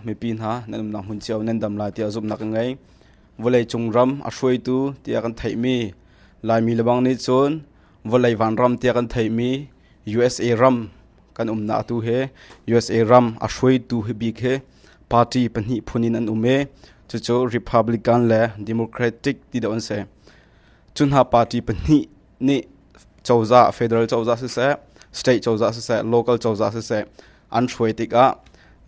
mipi hna nan umnak hmun cio nan dam lai tiah zumhnak ka ngei vawleicung ram a hruaitu tiah kan theihmi laimi lebang nih cun vawlei vanram tiah kan theihmi usa ram Kan umnak atu he USA ram a hruaitu hi bik he party pahnih phun in an um i cucu Republican le Democratic ti deuh an si. Cu hna party pahnih nih cozah federal cozah siseh state cozah siseh local cozah siseh an hruai tikah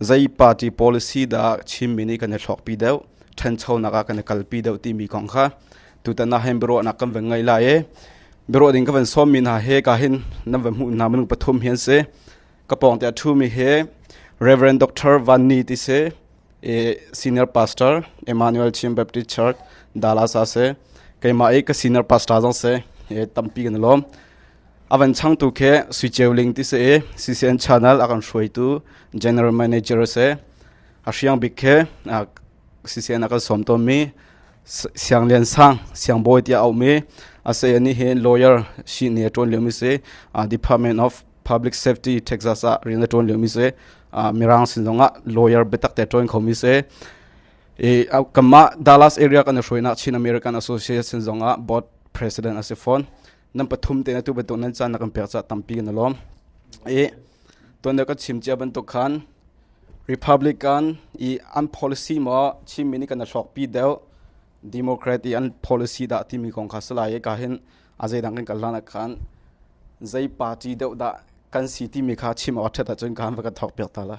zei party policy dah Chinmi nih kan i thlawkpi deuh ṭhanchonak ah kan i kalpi deuh timi kong kha tutan ah hin biaruahnak kan van ngei lai i biaruah ding ka van sawmmi hna he ka hin nan van hmuh hna minung pathum hi an si ka pawng te a ṭhumi he Reverend Dr. Van Ni ti si senior pastor Emmanuel Chin Baptist Church Dallas a si keimah i ka senior pastor zong si tampi kan lawm avan changtu khe sui ceu ling ti se CCN channel akan hruaitu general manager se a hriang bik khe CCN akan som to mi Sianglian sang siangbawi tiah a um i a saya nih hin lawyer si ni a ṭuan liomi si Department of Public Safety Texas ah rian a ṭuan liomi si Mirang sin zongah lawyer biatak te ṭuan khomi si i kanmah Dallas area kan i hruainak Chin American Association zongah board president a si fawn nan pathum te atu bantuk nan caan na kan pek cah tampi kan i lawm i Tuan kan chim cia bantuk khan Republican i an policy maw Chinmi nih kan i hlawkpi deuh Democrat i an policy dah timi kong kha salai i ka hin a zeidang kan kal hlan ah khan zei party deuh dah kan si timi kha chim awk a ṭhat ahcun ka han va kan thawk piak ta la.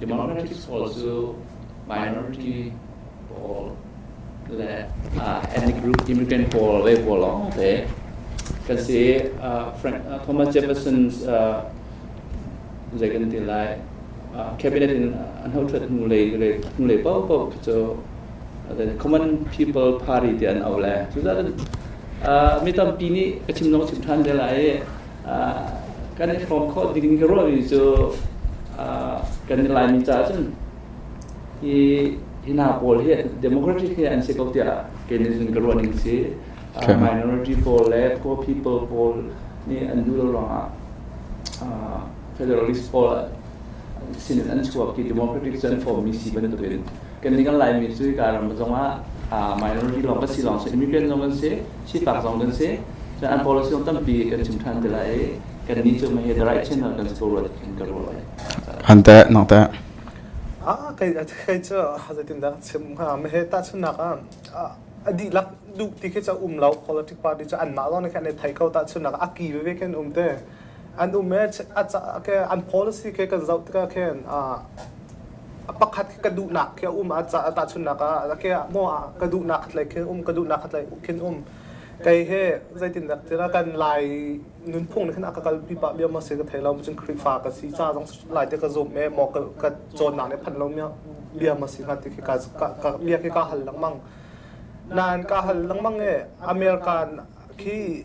Democratic pawl cu minority pawl le ethnic group immigrant pawl ve pawl lawngte kan si Thomas Jefferson zei kan ti lai cabinet in an hothat hnulei hnulei paoh khi cu common people party ti an au le cucaah mi tampi nih ka chim nong chim than te lai i kan i hrawm khawh ding ka ruahmi cu kan i laimi caah cun hi hi hna pawl hi democratic hi an si ko tiah kei nih cun ka ruah ning si minority pawl le poor people pawl nih an duh lo ruangah federalist pawl sin an chuak i democratic cu an formmi si bantukin kan nih kan laimi cu hika ram zongah minority lawng kan si lawng si immigrant zong kan si sifak zong kan si cun an policy zong tampi kan chim ṭhan ti lai i kan nih cu mei he the right channel kan si ko rua tiin ka ruah lai han teh nok teh Ah, kai kai cu zeitin dah chim ha me he ta chunak ah a dihlak duh ti khi cha um lo politic party cha an mah zong ne khan ne thai ko ta chunak a ki ve ve khen um te an um e an policy ke kan zoh tikah khin a pakhat ka duhnak khi a um a tahchunnak ah ke maw ka duhnak khat lei khin um ka duhnak khat lei khin um kei he zeitin dak tira kan lai nunphung khin aka kal pi pa bia ma se ka thei lo cun khrihfa ka si cha jong lai te ka zum e mo ka chonnak ne phan lo mia bia ma si na ti khi ka ka bia khi ka hal lang mang nan ka hal lang mang e american khi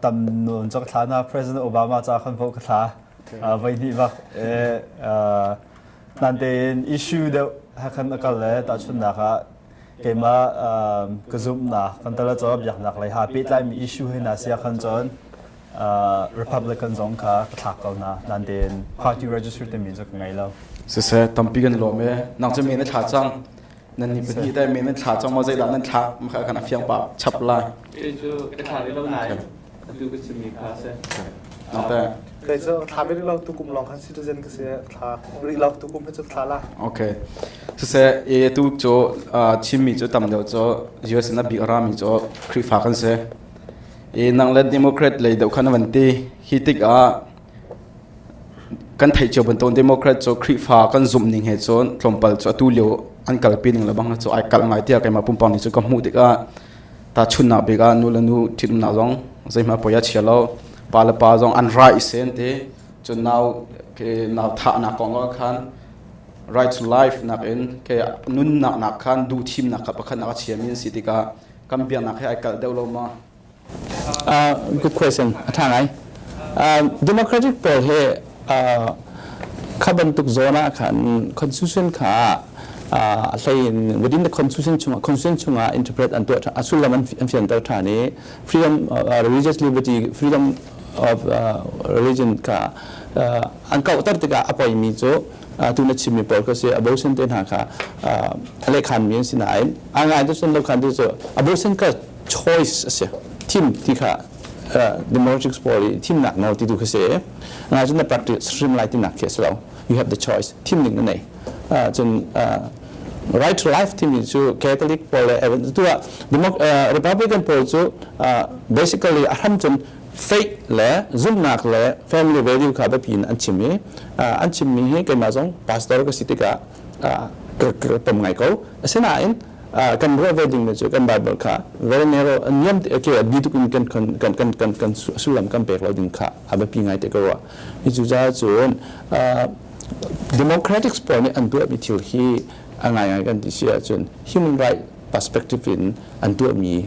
tam non chak thla na president obama cha khan vo ka thla uh, vai ni bak e uh, nan te in issue de ha khan akal le ta chun na ka keima ka zoom na kan tala cho biak nak lai ha pe tlai mi issue he na sia khan chon republican zong ka ka thak ko na nan te in party register te min zo ngai lo se se tampi kan lo me nang che me na thla chang nan ni pahnih dai men nan thla chong ma zeidah nan thla makha kan afiang pa chap la e chu ka thla lo nai tu ka chimi kha se ante kai zo thla be lo tu kum long khan citizen ka se thla ri lo tu kum he chu thla la okay su se e tu cho chimmi cho tam deu cho US na big rami cho krifa kan se e nang let democrat lei deu khan van ti hi tik a kan theih cio bantuk democrat cu Khrihfa kan zumh ning he cun tlawmpal cu atu lio an kalpi ning le bang cu ai kalh ngai tiah keimah pumpak nih cu ka hmuh tikah ta chunnak bik ah nu le nu ṭhitumnak zong zeihmah poi a chia lo pa le pa zong an ra i sen ti cun nau ke nau thahnak kong ah khan right to life nak in ke nunnak nak khan duhthimnak kha pakhat nak a chiami an si tikah kan biaknak he ai kalh deuh lo ma Uh, good question. A tha ngai. Uh, democratic pawl he uh, kha bantuk zone ah khan constitution kha a hlei within the constitution chunga constitution chunga interpret an tuah a sullam an fian ter tha ni freedom religious liberty freedom of religion ka an kau tar tika apoi mi chu tu na chim mi pawl ko si abortion te na ka thale khan mi sin ai angai to sun lo khan tu abortion ka choice a si thim ti kha democrats pawl i thimnak no ti tu khi si ngai cun na practice hrim lai tinak khi a si lo you have the choice thim ning nei cun right to life timi cu catholic pawl le tu ah republican pawl cu basically a hram cun fake le zumhnak le family value kha biapi in an chim i an chimmi hi keimah zong pastor ka si tikah ka pom ngai ko asinain kan ruah ve dingmi cu kan Bible kha very narrow a niam te okay a bi tuk in kan kan kan kan kan sullam kan pek lo ding kha a biapi ngai te ka ruah hi cu ca cun democratics pawl nih an tuahmi thil hi a ngai ngai kan ti si ahcun human right perspective in an tuahmi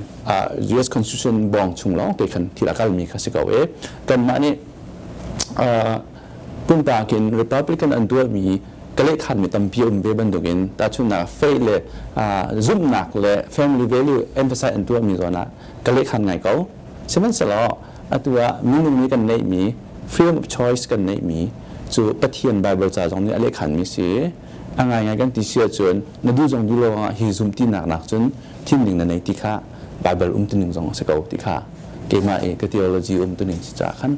US constitution bawng chung lawng te khan thil a kalmi kha si ko e kanmah nih Pumpak in Republican an dualmi kalehkhanmi tampi a um ve bantukin tahchunhnak faith le zumhnak le family value emphasize an tuahmi zawn ah kalehkhan ngai ko. Sihmanhsehlaw atu ah minung nih kan neihmi freedom of choice kan neihmi cu Pathian Bible ca zong nih a lehkhanmi si a ngaingai kan ti si ahcun na duh zong duh lo ah hi zum tinak nakcun thinning na nei ti kha Bible um tuning zong a si ko ti kha keimah i ka theology um tuning si caah khan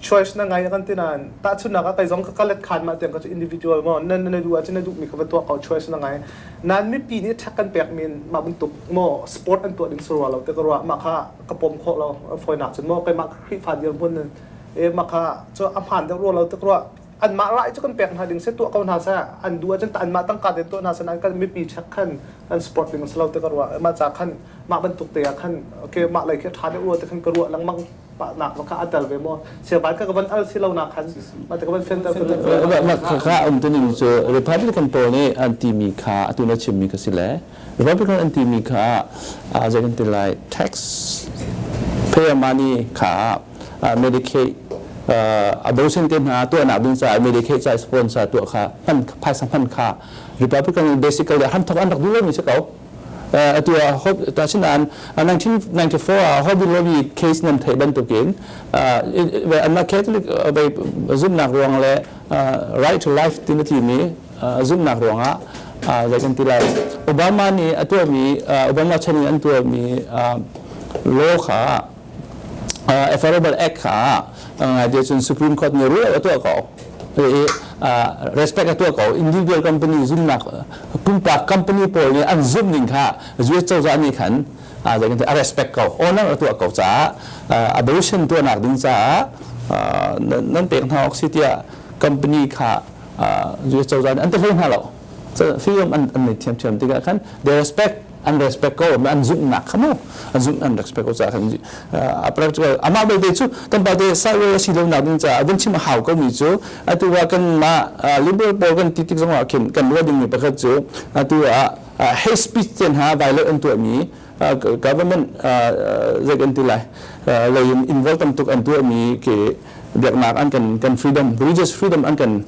choice na ngai a kan ti nain tahchunhnak ah kai zong ka let khan mah tiang ka cu individual ngo na na duh ahcun na duh mi kha va tuak ko choice na ngai nan mipi nih thak kan pek min mah bantuk mo sport an tuah ding surwa lo te ka ruah mah kha ka pom kho lo foina cun mo kai mah khrifa dir mun e mah kha chu a phan deuh ruwa lo te ka ruah an mah rai chu kan pek hna ding se tuah ko hna sa an du ahcun an mah tangka den tuah hna sa nan kan mipi chak khan an sport ding selo te ka ruah mah cha khan mah bantuk te ah khan okay mah lai ke tha de ruwa te khan ka ruah lang mang Nak va kha a tel ve maw siaban ka van al si lo nak khan ma ka van sender ka kha um tuning cu Republican pawl nih an timi kha atu na chimmi ka si le Republican an timi kha zei kan ti lai tax payer money kha Medicaid a docent te hna tuah nak ding ca Medicaid ca sponsor tuah kha hman phaisa hman kha Republican basically han thok an rak duh lo mi si ko atu ah tachinaan 1994 ah Hobby Lobby case nan theih bantukin anmah Catholic zumhnak ruang le right to life tina timi zumhnak ruangah zei kan ti lai Obama nih a tuahmi Obama chan in an tuahmi law kha uh, Affordable Act kha ngai dia chun Supreme Court ni rule atu ko i respect atu ko individual company zumnak pumpak company pawl nih an zum ning kha US cozah nih khan zeikan a respect ko owner atu ko ca abortion tu nak ding ca nan pek hna ok si tia company kha US cozah nih an te hoi hna lo Fihram an, an nei thiamthiam tikah khan they respect an respect ko an zumhnak kha mu an zumh an respect ko caah khan a practical amah belte cu kan pa te sideways a si lo nak ding caah vun chim a hau ko mi cu atu ah kan mah liberal pawl kan ti tik zongah khin kan ruah ding mi pakhat cu atu ah hate speech ten ha violate an tuah mi government zei kan ti lai lei in involve tam tuk an tuah mi ke biaknak an kan kan freedom religious freedom an kan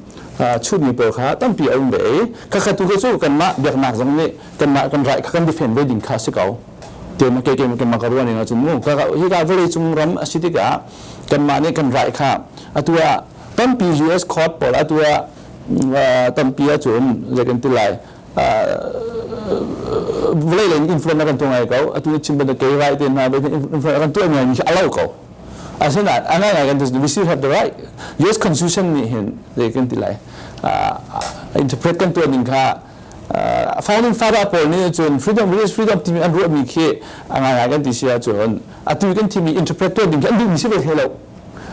chutmi pawl kha tampi a um ve i khakha tu cu kanmah biaknak zong nih kanmah kan rai kha kan defend ve ding kha si ko teima ke ke ke ka ruan ina chu mu ka hi ka valley chung ram a si tikah kanmah nih kan rai kha atu ah tampi US court pawl atu ah tampi a chum zekan tilai vlei len influence akan tu ngai ko atu chim ban ke rai te na be influence akan tu ngai mi alau ko Asinain, and I can just, we still have the right. US Constitution nih hin, zei kan ti lai, interpret kan tuan ning kha, founding father paul nih cun freedom religious freedom timi an ruahmi khi a ngai kan ti sia cun atu kan timi interpret tuan ding khi an duhmi si ve thei lo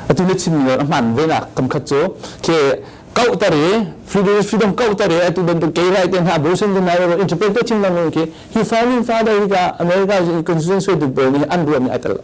atu na chim ni a hman ve na kam khat cu ke kau tare freedom freedom kau tare atu bantuk ke lai te na brusen de na interpret to chim lang khi he founding father ga america constitution so to paul ni an ruahmi atal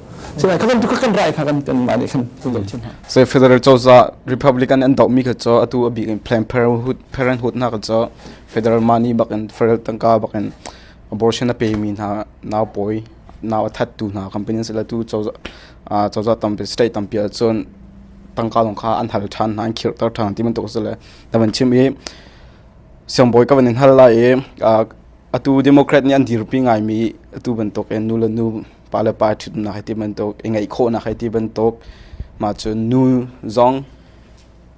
So federal cozah Republican an dohmi kha co atu abik in Planned Parenthood hna kha co federal money bakin federal tangka bakin abortion a pemi hna nau poi nau a thattu hna companies la tu cozah cozah tampi state tampi ahcun tangka long kha an hal than hna an khirtar than ti man tuk sile davan chim i siangbawi ka van in hal la i atu democrat nih an dirpi ngai mi atu bantuk in nu le nu pa le pa ṭhitnak hi ti bantuk i ngeih khawhnak hi ti bantuk mah cu nu zong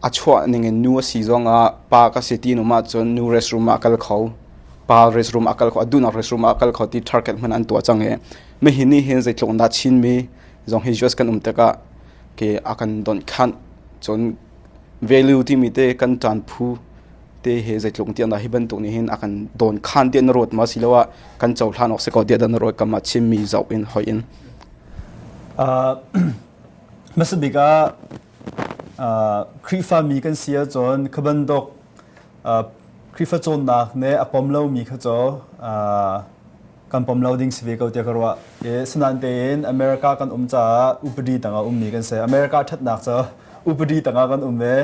a chuah ning in nu a si zong ah pa ka si ti num ahcun nu restroom ah kal kho pa restroom ah kal kho a duhnak restroom ah kal kho ti target hman an tuah cang i me hi ni hin zeitluk dah chinmi zong hi just kan um tikah ke a kan don khanh cun velu timi te kan ṭan phu te he zeitluk tiah hi bantuk nih hin a kan dawnkhan tiah na ruat ma siloah kan cohlan awk si ko tiah na ruat kam ah chimmi zoh in hoi in hmasabik ah khrihfami kan si ahcun khabantuk khrihfa cawnnak nih a pom lomi kha cu kan pom lo ding si ve ko tiah ka ruah. Ke sinain tein America kan um caah upadi tangah ummi kan si. America thatnak cu upadi tangah kan um ve.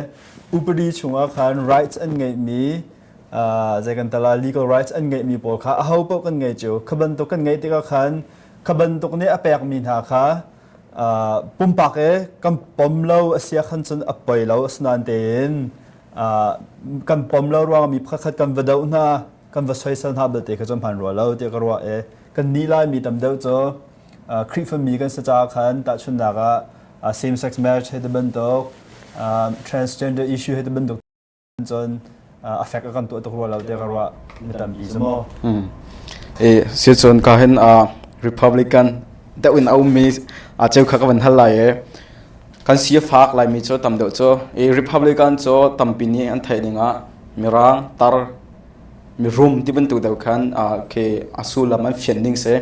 Upadi chungah khan rights an ngeihmi uh, zei kan tala legal rights an ngeihmi pawl kha aho paoh kan ngei cu. Kha bantuk kan ngei tikah khan kha bantuk nih a pekmi hna kha uh, pumpak e kan pom lo asia khan cun a poi lo asinain tein uh, kan pom lo ruangah mi pakhat kan va do hna kan va soisel hna belte kha cu hman rua lo tiah ka ruah i kannih Laimi tam deuh cu Khrihfami kan si caah khan tahchunhnak ah same sex marriage he ti bantuk transgender issue he ti bantuk cun affect a kan tuah tuk rua lo tiah ka ruah mi tampi cu maw eh si cun ka hin republican deuh in aum mi a cheu kha ka van hal lai e kan si fak lai mi cu tam deuh cu e republican cu tampi nih an theih ning ah mirang tar mirum ti bantuk deuh khan khi a sullam an fian ning si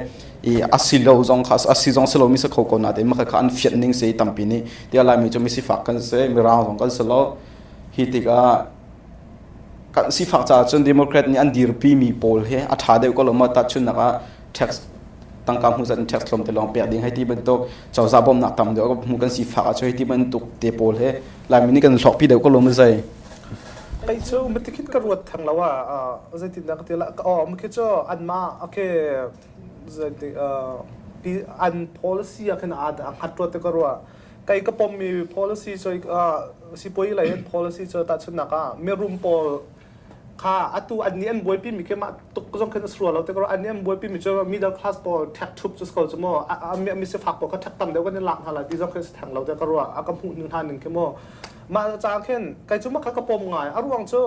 i a si lo zong kha a si zong si lo mi si kho ko na te ma kha an fian ning si tampi nih ti lai mi cu mi sifak kan si mirang zong kan si lo hi tikah kan sifak caah cun democrat nih an dirpi mi pawl he a tha deuh ko lo ma ta chun nak ah tax tangka hmu zat tax thlom te long pek ding hai ti bantuk cozah bom nak tam deuh hmu kan sifak ah chu hi ti bantuk te pawl he lai mi nih kan hlok pi deuh ko lo ma zai Pei cu matikhin ka ruat theng lo ah uh, zeitindah ka tilah ka awm khi cu anmah okay zeitik uh, an policy ah khin ad angat ruat te ka rua kai ka pom mi policy cu uh, sipoi lei an policy cu ta chun naka mi room pawl kha atu an ni an buai pi mi ke ma tuk zong khin asrua lo te ko an ni an buai pi mi cu middle class pawl thek thup chu ko chu mo a mi mi se fak pawl ka thek tam deu kan ni lak na la ti zong khin se theng lo te ka rua a ka mu ni han ning ke mo mah hnu caan khin kai cu makha ka pom ngai a ruang cu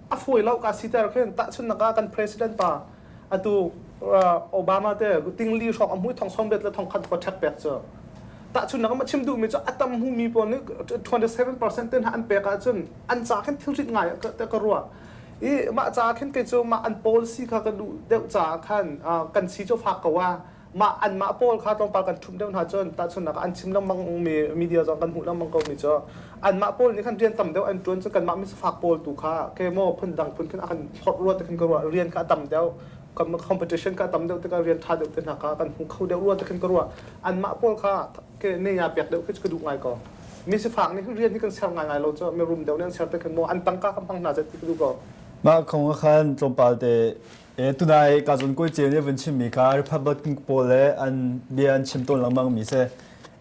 a fawi lo ka siter khin tahchun naka kan president pa atu obama te ting li hrok a mui thong som bet le thong khat fa thek pek cu tahchun naka ma chim duh mi cu atam hu mi pawl nih 27% ten ha an pek ahcun an ca khin thil rit ngai ka ruah i mah ca khin kai cu mah an policy kha ka duh deuh ca khan kan si cu fak ko a mah anmah pawl kha tlawmpal kan ṭhumh deuh hna cun tahchunhnak an chim lengmangmi media zong kan hmuh lengmang ko mi cu anmah pawl nih khan rian tam deuh an ṭuan cun kanmah misfak pawl tu kha ke maw phundang phun khin a kan hlorh rua te khin ka ruah rian kha a tam deuh kan competition ka tam deuh tikah rian ṭha deuh te hna kha kan hmu kho deuh rua te khin ka ruah anmah pawl kha ke ne ya pek deuh khi ka duh ngai ko misifak nih rian hi kan ser ngai ngai lo cu mi rum deuh nih an ser te khin maw an tangka kan hmang hna zet ti ka duh ko mah kong ah khan tlawmpalte Eh, tunai ka zon koi chen vun chim mi kha Republican pawl le an bia an chim tawn lengmang mi se.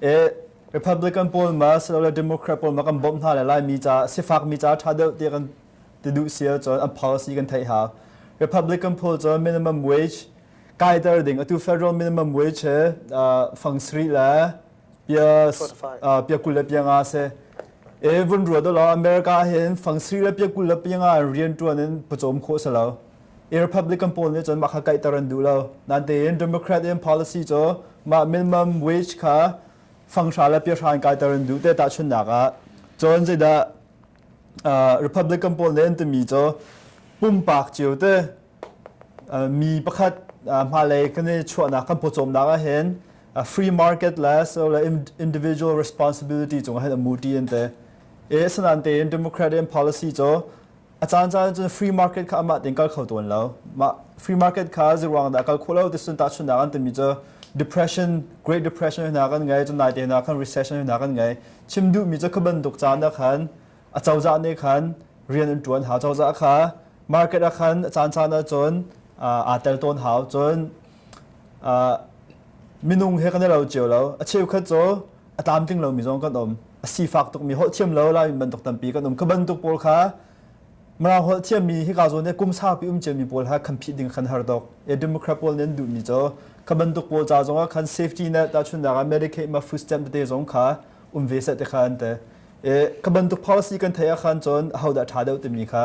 Eh, Republican pawl ma so le Democrat pawl ma kan bom hna le lai mi cha sifak mi cha tha deuh ti kan ti du sia chon an policy kan thai ha. Republican pawl chon minimum wage kai dar ding atu federal minimum wage he fang sri le pia pia kul le pia nga se. Eh vun ruwa do la America hen fang sri le pia kul le pia nga rian tuan in pachom kho sa lao. Republican pawl nih cun mah kha kaihter an duh lo. Natein Democrat in policy cu mah minimum wage kha fanghra le piahra in kaiter an duh te tahchunnak ah cun zeidah Republican pawl nih an timi cu pumpak cio te mi pakhat hmailei kan i chuahnak kan pawcawmnak ah hin free market le so le individual responsibility cung ah hin a mu ṭi an ti. Asinain tein Democrat in policy cu A caancaan cun free market kha amah tein kal kho tawn lo. Mah free market kha zeiruang dah kal khawh lo ti sun tahchunhnak an timi cu depression, Great Depression hna kan ngei, cun naite hna khan recession hna kan ngei. Chim duhmi cu khu bantuk caan ah khan a cozah nih khan rian an ṭuan hau. Cozah kha market ah khan a caancaan ah cun aa tel tawn hau. Cun minung he kan i lo cio lo. A cheukhat cu a tlamtling lomi zong kan um a sifak tukmi holh thiam lo lai bantuk tampi kan um ka bantuk pawl kha Mirang holh thiammi hika zawn i kum saupi um ciami pawl ha kan phih ding khan har dok e democrat pawl nen duhmi cho ka bantuk pawl ca zong ah khan safety net ta chun daga medicaid ma food stamp te zong kha um ve sa te khan te e ka bantuk policy kan thaya khan chon hauda tha deuh timi kha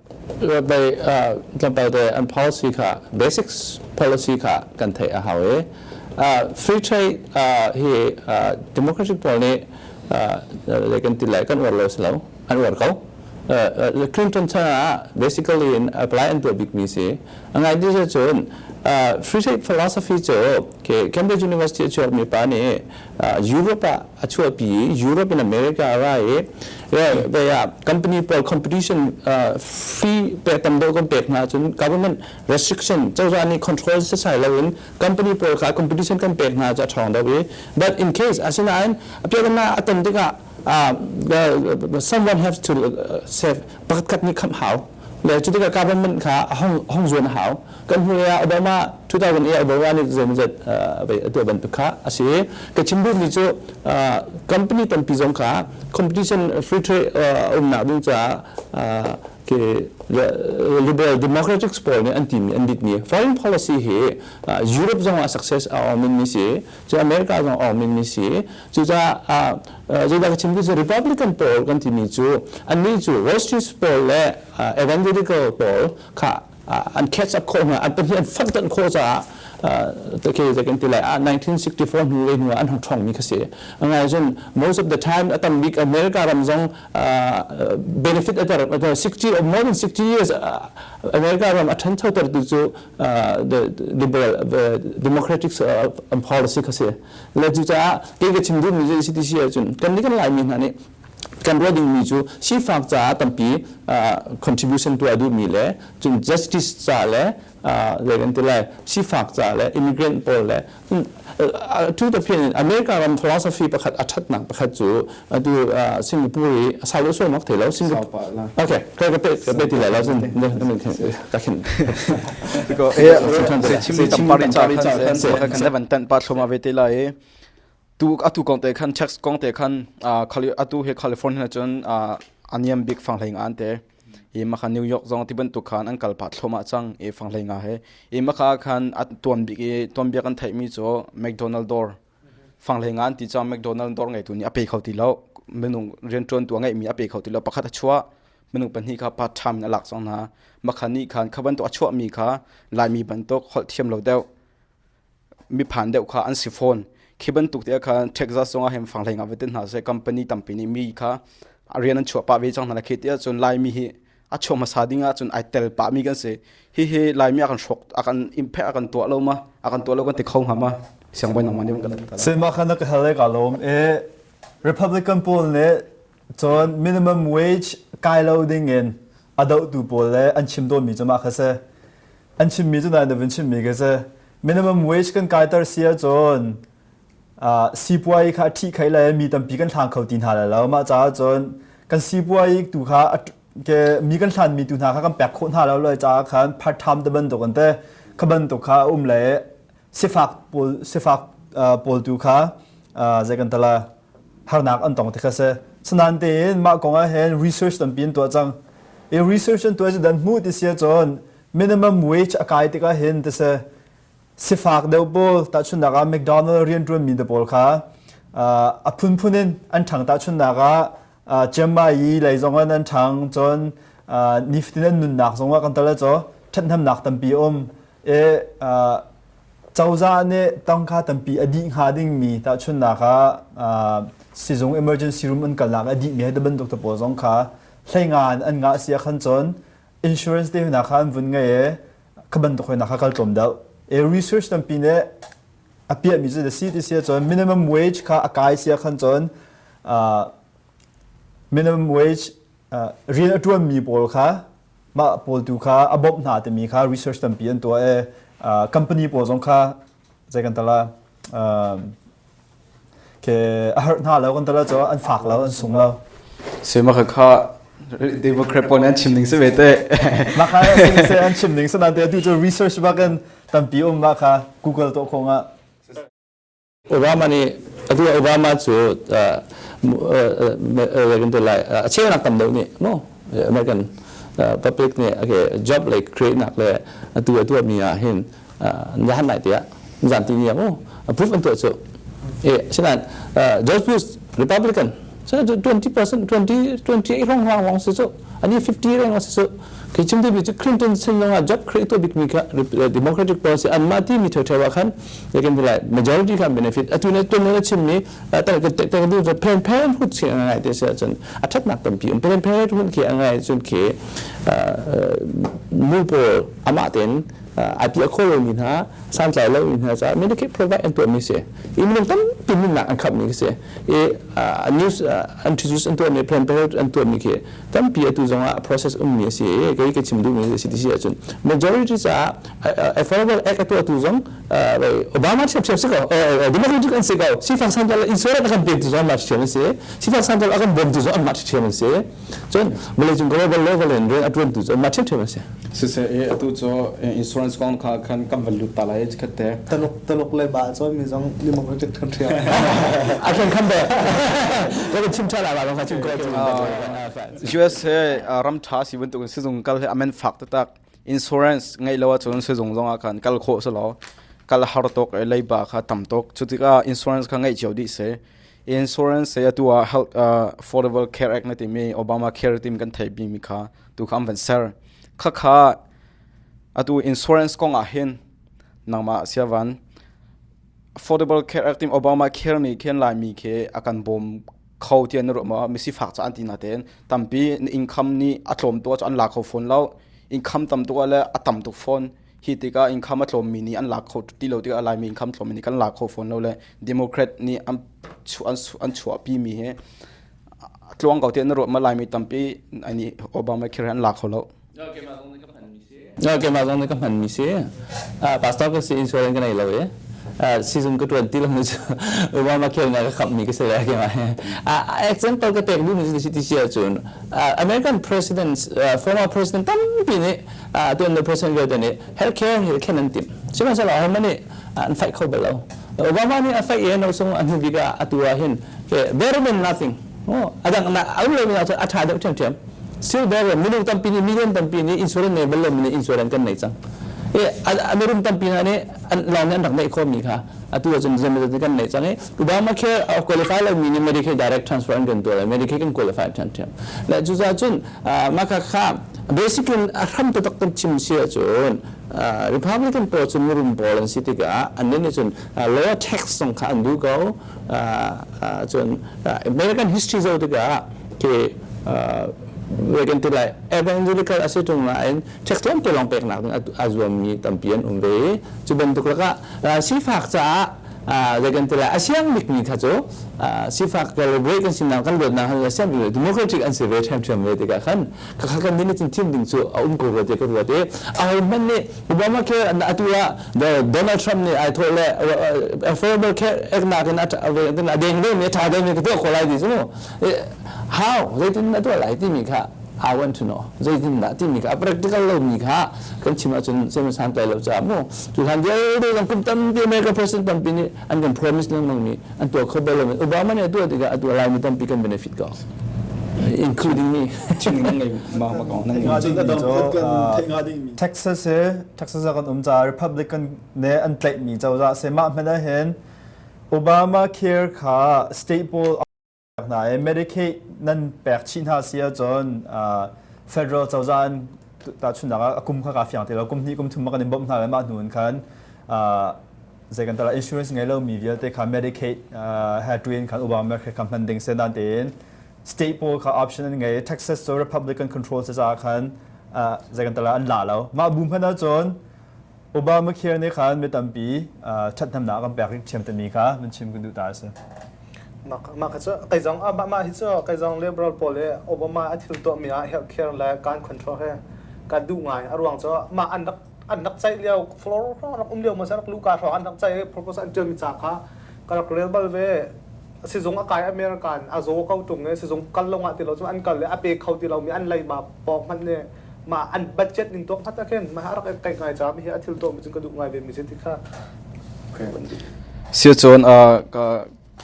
tlawmpalte an policy kha basics policy kha kan theih a hau i free trade hi democracy pawl nih kan ti le kan uar lo si lo an uar ko Clinton chan ah basically in apply an tuah bikmi si a ngai dih cun free trade philosophy cu Cambridge University a chuakmi pa nih Europe ah a chuahpi i Europe in America a ra i they are company pawl competition fee pek tam deuh kan pek hna ahcun government restriction cozah nih control setsai loin company pawl kha competition kan pek hna cu a ṭhawng deuh i but in case asinain a piakannak a ton tikah someone have to save pakhat khat nih khamh hau le cu tikah carbon man kha a hong hong zuan a hau kan hnulei ah Obama 2008 Obama nih zeimazat a tuah bantuk kha a si ka chim duhmi cu company tampi zong kha competition free trade umnak ding caah ke liberal democratic pawl nih an timi an bitmi foreign policy hi Europe zong ah success a awmin ni si cu America zong awng min mi si cucaah zeidah ka chim cu Republican pawl kan timi cu annih cu Wall Street pawl le evangelical pawl kha an catch up khawh hna an pahnih an fak tanh khawh caah take kan ti lai ah 1964 hnu le hnu ah an hung thong mi kha si ngai cun most of the time a tam bik America ram zong benefit a ter 60 more than 60 years America ram a than thoter tu cu democratic policy kha si le cu caah kei ka chim duhmi si ti si ahcun kan nih kan laimi hna nih kan ruah dingmi cu sifak caah tampi contribution tuah duhmi le cun justice ca le zei kan ti lai sifak ca le immigrant pawl le to the point America ram philosophy pakhat a thatnak pakhat cu atu Singapore i sau lo suam thei lo Singapore okay ka ka pe ka pe ti lo zin ka khin ko e se chimni tampari cha kan kan devan tan pa thloma ve te la e tu atu kong te khan tax kong te khan khali atu he California chun aniam big fang hlaing an te Yemaka New York zong ti bantuk khan an kal pah thloma cang e fang hlei nga he Yemaka khan an tuan bik i tuan biak an theihmi cu McDonald door fang hlei nga an ti cang McDonald door ngeitu nih a pe kho ti lo minung riantuan tu a ngeihmi a pe kho ti lo pakhat a chuah minung pahnih kha part time in a lak cang hna makhan nih khan kha bantuk a chuahmi kha laimi bantuk holh thiam lo deuh miphan deuh kha an si fawn. Khi bantuk te khan Texas zongah hin fanghleng ah va te hna seh company tampi nih mi kha a rian an chuah pah ve cang hna khi ti ahcun Laimi hi a chuah hmasa ding ahcun ai tel pah mi kan si. Hihi Laimi a kan hrawk a kan impact a kan tuah lo ma a kan tuah lo kan ti kho hnga ma siangbawi nangmah nih kan kan tala. Sai mah khan na ka hal ka lawm e Republican pawl nih cun minimum wage kai lo ding in a dohtu pawl le an chim dawnmi cu mah kha si an chimmi cu nai na vun chimmi ka si minimum wage kan kaiter si ahcun sipuai kha ṭhi khai le mi tampi kan hlang kho ti hna lai lo mah caah cun kan sipuai tu kha ke mi kan hlanmi tu hna kha kan pek khawh hna lo lo caah khan part time te bantuk an te kha bantuk kha um le sifak pawl sifak pawl tu kha zei kan tala harnak an tong tikha si sanan tein mah kong ah hin research tampi an tuah cang i research an tuah cu dan hmu ti sia cun minimum wage a kai tikah hin ti si sifak deuh pawl tahchunnak ah McDonald rian ṭuan mi te pawl kha a phunphun in an ṭhang tahchunnak ah Jemai lei zong an an ṭhang cun niftin an nunnak zong ah kan tal caw ṭhathnamnak tampi um e Cozah nih tang kha tampi a dih hnga dingmi tahchunhnak ah uh, sizung emergency room an kalnak a dih mi hi bantuk te pawl zong kha hleinga in an ngah si khan cun insurance te hna kha an vun ngai e ka bantuk hoi na kha kal tlawm deuh e research tampi nih a piah mi cu si ti sia cun minimum wage kha a kai sia khan cun uh, minimum wage uh, rian a tuan mi pawl kha mah pawl tu kha a bawmh hna timi kha research tampi an tuah e company pawl zong kha zei kan tala ke a harh hna lo kan tala cho an fak lo an sung lo se ma kha democrat pon an chim ning se ve te ma kha se an chim ning se nan te tu cho research ba kan tampi um ma kha google to khonga Obama nih atu Obama cu a ceunak tam deuh nih no American public nih job le createnak le atu a tuahmi ah hin jahan lai tiah zan ti ni a put an tuah cu sinain George Bush Republican Cu twenty percent twenty twenty eight rong wang wang si cu ani fifty reng si cu khi chim ti bi cu Clinton sin langa job create to bik mi ka democratic policy an ma ti mi thoi thoi wa khan they can be like majority kan benefit atu ne tun ne chim ni ta ka te ka du va pen pen hu chi ngai te se chun a that nak tam pi um pen pen hun khi ngai chun khi mu po ama ten atia kholo mi na san tlai lo mi na cha medicate provide an to mi se in lung tam pin na an khap mi se news an introduce an tuahmi plan period an tuahmi khi tampi atu zong ah process ummi a si i kei ka chim duhmi a si ti si ahcun majority caah affordable act a tuahtu zong obama ṭhiamṭhiam si ko democratic an si ko sifak santal in suarah a kan pektu zong an mah ṭhiam an si sifak santal a kan bawmtu zong an mah ṭhiam an si Cun Malaysian Global Level in re a tuantu cu mah ṭhiamṭhiam a si. Siseh i atu cu insurance kong kha khan kan van lut ta lai khat te. Taluk taluk le ba cu mi zong democratic country ah a kan kham be. Ka chim ṭha la lawng kha chim ko chu. US he ram ṭha si bantuk in sizung kal he amen fak tatak insurance ngai lo ahcun sizung zong ah khan kal khawh selaw kal har tok leiba kha tam tok cu tikah insurance kha ngeih cio dih se Insurance se atu ah health uh, affordable care act na timi Obamacare tim kan thei bimi kha tu kha am van ser khakha atu insurance kong ah hin nangma siavan affordable care act tim Obamacare ni khen lai mi khe akan bom kho tian na ma mi si fak cha anti na ten tampi income ni atlom to an la kho phone lo income tam to le atam to phone Hi tikah inkham a tlawmmi nih an lak kho ti lo tikah Laimi inkham tlawmmi nih kan lak kho fawn lo le Democrat nih an, an chuahpimi hi a tluang ko tiah na ruat ma Laimi tampi nih Obama khir an lak kho lo. Keimah zong nih ka hmanmi si. Pastor ka si insurance ka nei lo i. Season ka tuan ti lo mi cu Obama khel nga ka khammi ka si le keimah. Example ka pek duhmi ti si cun American president former president tampi nih atuan le person vialte nih health care hi thlen an tim sihmanhsehlaw hohmanh nih an faih kho bal lo obama nih a faih i no sung an hnu bik ah atu ah hin better than nothing adang na aum lo mi a tha deuh ṭhiamṭhiam still better minung tampi nih million tampi nih insurance nei bal lo mi nih insurance kan nei cang American tampi na nih lawng nih an rak neih khawm mi kha atu ahcun zemazati kan nei cang i Obama care qualify lo mi nih Medicaid direct transfer an kan tuah lo Medicaid kan qualify ṭhiamṭhiam le cucaah cun maka kha basic in a hram to tak kan chim si ahcun Republican pawl cu mirum pawl an si tikah an nih cun lower tax zong kha an bu ko cun American history zo tikah khi kan ti lai evangelical a si tung nain check tuan te lawng peknak a zuammi tampi an um ve cu bantuk lakah sifak caah zei kan ti lai a siang bikmi tha cu sifak kan le kan sinak kan luatnak a siang bikmi democratic an si ve ṭhiamṭhiam ve tikah khan khakha kan nih cun thim ding cu a um ko rua te ka ruat i a ho hmanh nih Obama ke atu ah Donald Trump nih ai thawh le affordable care act nakin a deng ve mi a ṭha deng ve ka tuah ko lai ti cu how zeitin na tuah lai timi kha how and to know zeitindah timi kha a practical lomi kha kan chim ahcun zeiman santlai lo caah mu cu hlan vialte zong kum tampi America president tampi nih an kan promise lengmang mi an tuah kho bal lomi Obama nih a tuah tikah a tuah lai mi tampi kan benefit ko including me Texas he Texas a kan um ca Republican ne an tlaih mi cozah se mah hmena hin Obama care kha state poll hna i Medicaid nan pek chih hna si ahcun federal cozah in tahchunhnak ah a kum kha kaa fiang ti lo kum hnih kum thum a kan in bawmh hna le mah hnu in khan zei kan tara insurance ngei lomi vialte kha Medicaid had to in khan Obama kha kha hman ding se nan tein state pawl kha option an ngei Texas cu Republican control se caah khan zei kan tara an la lo mah bu hman ahcun Obamacare nih khan mi tampi ṭhathnemnak kan pek i thiamtami kha van chim kan duh ta a si. Mah kha cu kai zong mah mah hi cu kai zong liberal pawl i Obama a thil tuahmi ah health care le gun control he ka duh ngai a ruang cu mah an rak an rak ceih lio floor rak um lio ma rak luka hrawng an rak ceih i proposal an ṭialmi ca kha ka rak rel bal ve sizung a kai American a zaw ko ṭung i sizung kal lawng ah ti lo cun an kal i a pe kho ti lomi an leima pawng hmanh nih ma an budget ning tuak khat khin ma rak kai ngai cha mi hi a thil to mi cun ka duh ngai ve mi se ti kha sia chon a ka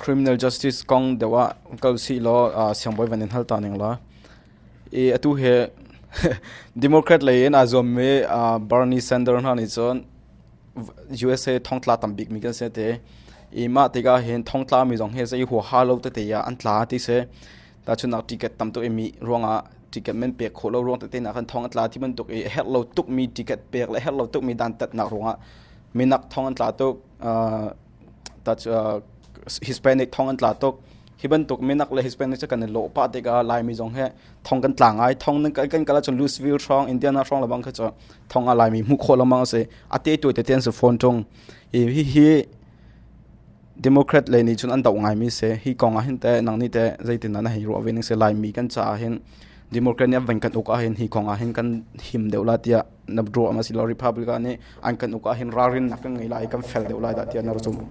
criminal justice kong dewa kal si lo siang boy van in hal ta ning la e atu he democrat lei in a zom me Bernie Sanders na ni chon USA thong tla tam bik mi kan se te e ma te ga hen thong tla mi jong he se ho ha lo te te ya an tla ti se Tahchunnak ticket tam tuk imi ruangah ticket men pek khawh lo ruang tete nak kan thong atla ti bantuk i herh lo tuk mi ticket pek le herh lo tuk mi dantat nak ruangah minak thong an tla tuk uh, tat uh, Hispanic thong an tla tuk hi bantuk minak le Hispanic ca kan lo pa te ka lai mi zong he thong kan tla ngai thong nan kan kala cho Louisville strong Indiana strong labang kha cho thong a lai mi mu kho lamang se ate tu te ten se phone chung hi hi Democrat lei nih cun an doh ngaimi si. Hi kong ahhin teh nang nih teh zeitindah na hei ruah ve ning si Laimi kan caah hin Democrat nih an van kan uk ahhin hi kong ahhin kan him deuh la tiah na ruah ma si lo Republican nih an kan uk ahhin ralrinnak kan ngei lai i kan fel deuh lai dah tiah na zumh.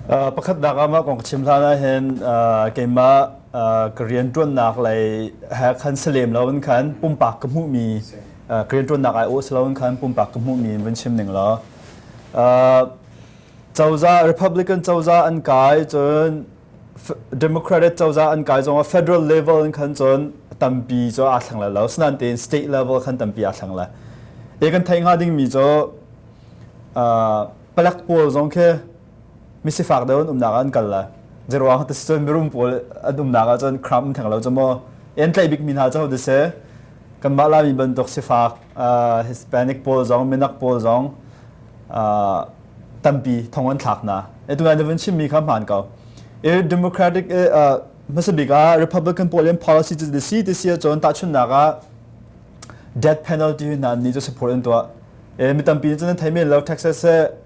Uh, pakhatnak ah mah kong ka chim hlan ahhin uh, keimah uh, ka riantuannak lei ha khan si lem lo in khan pumpak ka hmuhmi uh, ka riantuannak ai awh si lo in khan pumpak ka hmuhmi vun chim ning law uh, cozah republican cozah an kai cun democratic cozah an kai zong federal level in khan cun tampi cu aa thleng lai lo snan tein state level khan tampi aa thleng lai e kan thai nga ding mi cu palak pawl zong khi misifak deuh um nak an kal lai zeruang ta cun mirum pawl an um nak cun kram theng lo chamo en tlai bik mi hna chau de se kan ma la mi bantuk sifak uh, Hispanic pawl zong minak pawl zong uh, tampi thong an thlak na etungai na vun chimmi kha hmaan ko e democratic e uh, masabik a republican pawl in policy to the sea this year chon ta chunnak a death penalty hna ni chu support in to e mi tampi chan thai men lo texas se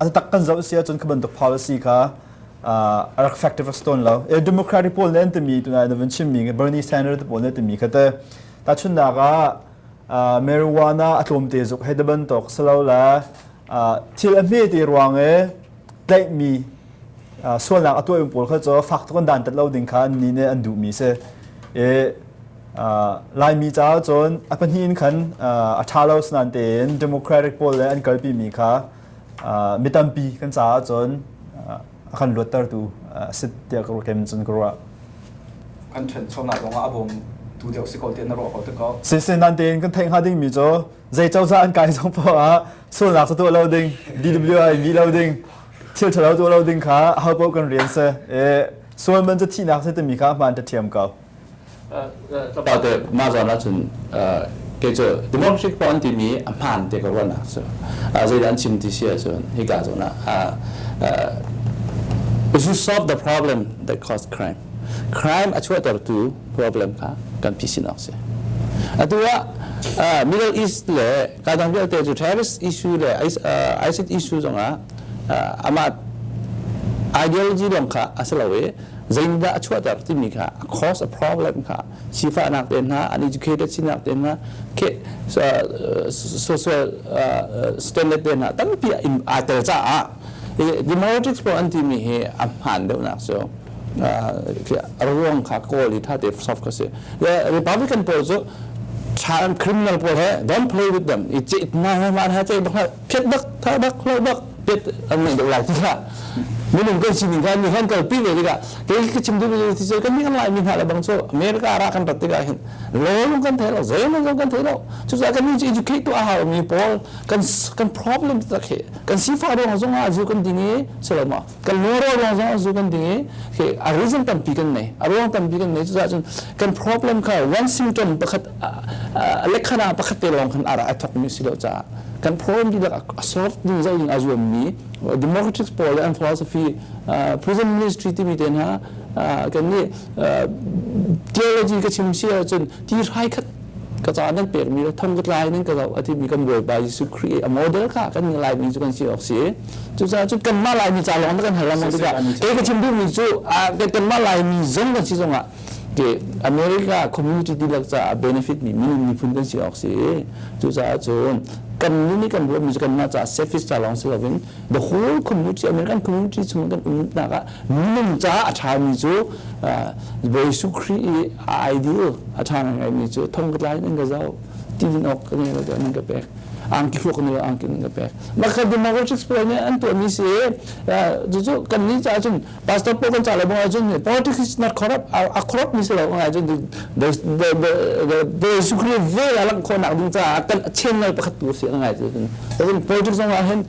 A taktak kan zoh a si ahcun kha bantuk power si kha uh, a rak factive rak stawn lo. E democratic pawl nih an timi tuna na vun chimmi Bernie Sanders te pawl nih timi kha te tahchunnak ah uh, marijuana a tlawmte zuk hei daban tok salo la uh, thil a hme te ruang e tlaihmi uh, sualnak a tuai pawl kha cho fak tuk an dan tat lo ding kha an ni ne an duhmi se e uh, laimi caah cun a pahnih in khan uh, a tha lo snan tein democratic pawl le an kalpi mi kha mi tampi kan caah cun a kan luattertu a si tiah ka ruah kem cun ka ruah kan ṭhenchonak zongah a bawm tu deuh si ko tiah na ruah ko te ko si sin nan tein kan theih hnga dingmi cu zei cozah an kai zong pawh ah sualnak cu tuah lo ding DWI mi lo ding thil ṭhalo tuah lo ding kha a ho paoh kan rian se e sual man cu thihnak se timi kha hmaan ṭha thiam ko about the mahzawn ahcun kei cu democratic paw an timi a hmaan te ka ruahnak cu zeidah an chim ti si ahcun hika zawn ah if you solve the problem that caused crime crime a chuahtertu problem kha kan phisin awk si atu ah middle east le Tadang vialte cu terrorist issue le ISIS issue zongah amah ideology lawng kha a si lo i zeinihdah a chuahter timi kha a cause a problem kha sifahnak te hna uneducated sinak te hna social standard te hna tampi aa tel caah Democrats pawl an timi hi a hmaan deuhnak cu a ruang kha kawl i tate soft kha si le Republican pawl cu tha criminal pawl he don't play with them i ceh hna he man ha ceh bak ha phet bak tha bak hlo bak pet an nei deuh lai ti kha minung kan sining kan ni han kal pi ve tikah kei ka chim duh ti cu kan ni lai mi hna la bang cu America ra kan rat tikah hin lawlung kan thei lo zeilung kan thei lo cucu kan ni educate to a hau mi pawl kan kan problem tak hi kan sifah ruang zong ah zu kan ding i si lo ma kan moral ruang zong ah zu kan ding i khi a reason tampi kan nei a ruang tampi kan nei cucaah cun kan problem kha one symptom pakhat lekhana pakhat te lawng khan ara a thokmi si lo caah kan problem dihlak a solve ding zoh ding a zuammi democratic pawl le an philosophy prison ministry timi te hna kan nih theology ka chim si ahcun ti hrai khat ka ca nan pekmi le thong ka tlai nan ka zoh a timi kan Bawipa Jesuh Khrih i a model kha kan Laimi cu kan si awk si cucaah cu kanmah Laimi ca lawng na kan hal lengmang tikah kei ka chim duhmi cu kanmah Laimi zong kan si zongah ke America community dihlak caah benefit mi minung miphun kan si awk si cucaah cun kan nun i kan ruahmi cu kanmah caah service ca lawng si loin the whole community American community chung kan umnak ah Minung caah a ṭhami cu Jesuh Khrih i a ideal a ṭha ngaingaimi cu thong ka tlai in ka zoh, tilin awk ka ngel ning ka pek, angki thluak ngel angki in ka pek. Maka democratics pawl nih an tuahmi si cucu kannih caah cun Pastor Paul kan ca le bangah cun politics is not corrupt a corrupt si lo bangah cun Jesuh Khrih vel a langh khawhnak ding caah kan a chain ngai pakhat tu si a ngai cu politics zongah hin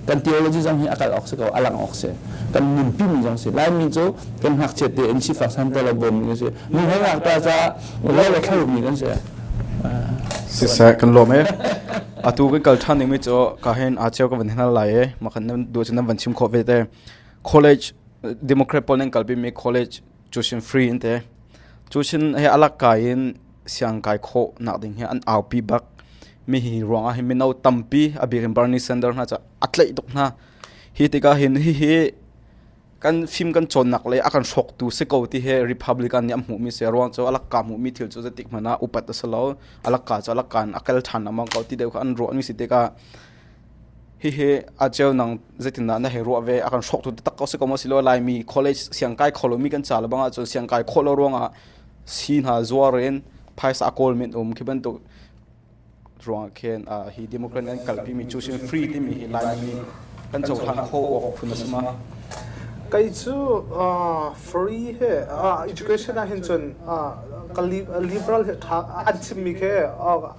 kan theology zong hi a kal awk si ko a lang awk si kan nunpi mi zong si laimi cu kan ngakchiat te in sifak san ta lo bawm mi si nu he ngak ta ca lo le thlo mi kan si sisa kan lom e atu kan kal than ning mi cho ka hen a cheu ka van hena lai e ma kan du chu nan van chim kho ve te college democrat pol nan kalpi mi college cusin free in te cusin he alak kai in siang kai kho nak ding he an aupi bak mi hi ruang ah hi mino tampi abikin Bernie Sanders hna cha atlei tuk hna hi tika hin hi hi kan film kan chon nak le akan shok tu se ko ti he republican ni am mu mi se ruang cho alak ka mu mi thil chu zetik mana upat asalo alak ka cha alak kan akel than amang ko ti deu kha an ro ni si te ka Hihi a ceu nang zeitindah na hei ruah ve a kan hrawktu taktak ko si ko maw si lo Laimi college siang kai kho lomi kan ca le bang ahcun siang kai khawh lo ruangah si hna zuar in phaisa a kawl men um khi bantuk ruangah khin uh, hi democrat an kalpi mi choosing free timi hi Laimi nih kan cohlan kho awk phun a si ma kei cu uh, free he uh, education ah hin cun uh, ka liberal he tha an chimmi khi uh,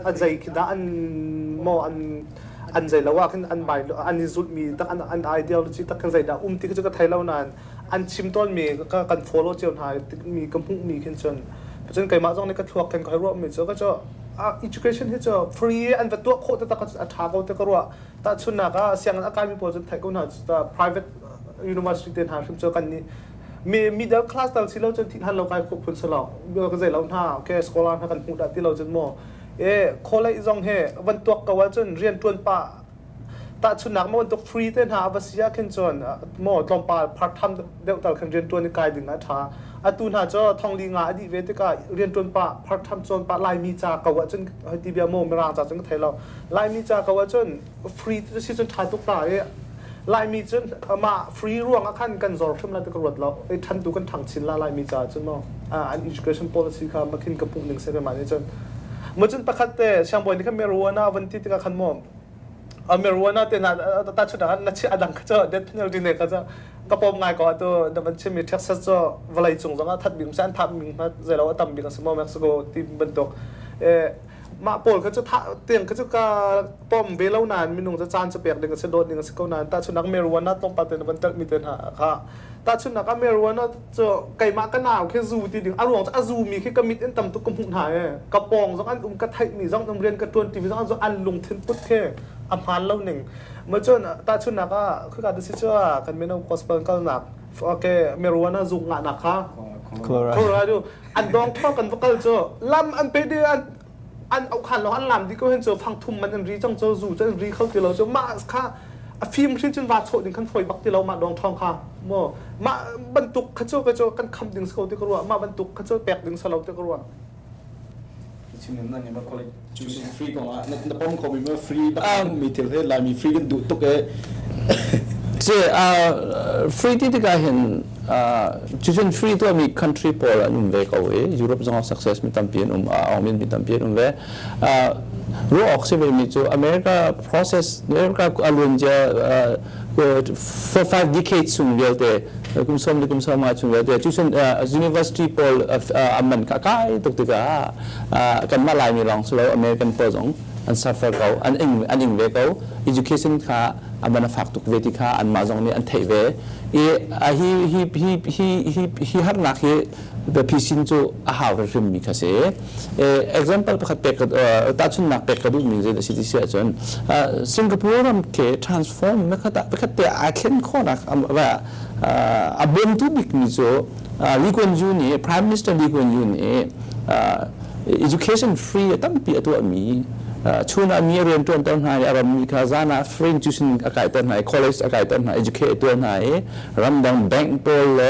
a zei khi dah an maw an an zei lo ah khin an bai an in zulmi tak an an ideology tak khin zei dah um ti cu ka thei lo nain an chim tawn mi ka kan follow cio hna mi ka hmuh mi khin cun cun keimah zong nih ka thluak khin kai ruah mi cu ka cu education hi cu free an va tuah khawh te tak a tha ko te ka ruah ta chun nak a siang a kai mi pawl cun thai ko hna cu private university te hna hrim cu kan ni me middle class tal si lo cun thit han lo kai khuk phun selo ka zei lo hna okay scholar hna kan hmu da ti lo cun mo e kholei zong he van tuak ka wal cun rian tuan pa ta chunak ma tuk free te hna ava sia khin chon mo tlom pa part time deuh tal khan rian tuan ni kai ding a tha atu hna cho thongli nga adi ve te ka rian tuan pa part time chon pa lai mi cha ka wa chun hoti bia mo mirang cha chun ka thailo lai mi cha ka wa chun free si cun ṭha tuk ta i Laimi cun mah free ruangah khan kan zor hrim lai ti ka ruat lo i ṭhan tu kan ṭhang chin la Laimi caah cun maw an education policy kha makin ka puh ning sai mah nih cun mu cun pakhat te siangbawi nih khan marijuana van ti tikah khan maw marijuana te na ta chut khan na chi adang kha cha death penalty ne kha cha ka pom ngai ko tu da van chim mi Texas cho valai cung zong a that bim san thap ming ma zai lo a tam bik a si mo Mexico team bantuk eh mah pawl kha cu tiang kha cu ka pom ve lo nain minung cu caan cu pek ding a si dawt ding a si ko nain tahchunak meruana tlawmpal te van telhmi te hna kha tahchunak a meruana cu keimah ka nau khi zu ti ding a ruang cu a zumi khi ka mit in tam tuk ka hmuh hna e ka pong zong an um ka theihmi zong um rian ka tuan tv zong an an lungthin put he a hmaan lo ning ma cun tahchunak ah khi ka ti si cu kan mino gospel kalnak okay meruana zung nga na kha Colorado an dong thok an va kal cu lam an pe de an an okhan lo an lam di ko hin cu fang thum man an ri cang cu zu cu an ri kho ti lo cu mah kha a film hrin cun va chawh ding kan phoi bak ti lo mah dong thong kha mo mah bantuk kha cu ka cu kan kham ding ko ti ka ruah mah bantuk kha cu pek ding sa lo ti ka ruah It's in the non-emergent free kong ah na pom ko mi ma free bang mi thil he lai mi free kan duh tuk e si uh, free ti tikah hin cicun free tu mi country pawl an um ve ko i Europe zong success mi tampi an um a awmin mi tampi an um ve ruah ok si ve mi cu America process America alun ja for five decades chung vialte kum som le kum som ah chung vialte cu sun university pawl a man ka kai tuk tikah kan mah lai mi lawng silo American pawl zong an suffer ko an ing an ing ve ko education kha aman a fak tuk ve ti kha an mah zong nih an theih ve i hi hi hi hi hi harnak hi biapi sin cu a hau hrimhrimmi kha si example pakhat pek tahchunnak pek ka duhmi zei a si ti si ahcun singapore ram ke transform nakhat ah pakhat te aa thlen khawhnak a bawmtu bikmi cu Lee Kuan Yew nih Prime Minister Lee Kuan Yew nih education free a tampi a tuahmi chun ah mi a rian ṭuanter hna i a rammi kha zan ah fringe cu sin a kaiter hna i college a kaiter hna educate tuah hna i ramdang bank pawl le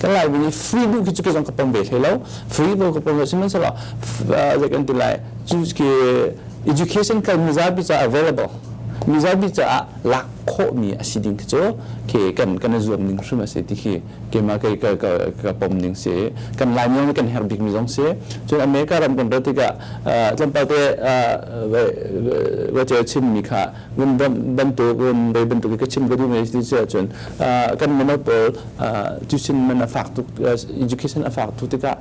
kan lai mi free bu khi cu zong ka pong ve hlei lo free bu ka pong lo sihmanhsehlaw ze kan ti lai cu ki education kan mizabi ca available mizabi caah lak khawh mi a si ding khi cu ke kan kan zuam ning hrim a si ti khi kema ke ka ka ka pom ning si kan lai mi kan her bik mi zong si cun america ram kan rat tikah tlampal te wa che chin mi kha ngun bantuk um bei bantuk ka chim ka duh ngai ti ce chun kan mano pol tuition man a fak tuk education a fak tu tika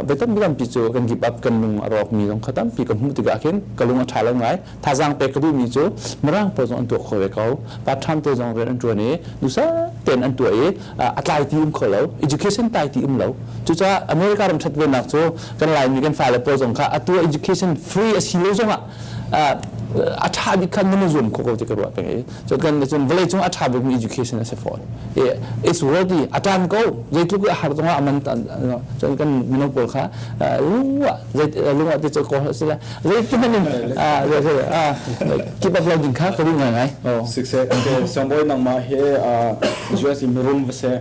be tam bitam pi chu kan give up kan lung a rok mi long khatam pi ka mu tika khin ka lung a tha lo ngai tha jang pe ka du mi chu marang po zong an to kho ve ko pa tham te zong ren an tuan ni dusa ten an tu i a tlai ti um kho lo education tai ti um lo cuca america ram that ve nak chu kan lai mi kan fa le po zong kha a tu education free a si lo zong ah a ṭha bik khan na zuam khawh ko ti ka ruah peng i cun kan cun vawlei cung a ṭha bikmi education a si fawn it's worth it a ṭan ko zeitluk a har zongah a man cun kan mino pawl kha lungah te cu ko si le zeitihmanh in keep up loading kha ka duh ngai ngai sick se siangbawi nangmah he insurance in rum va se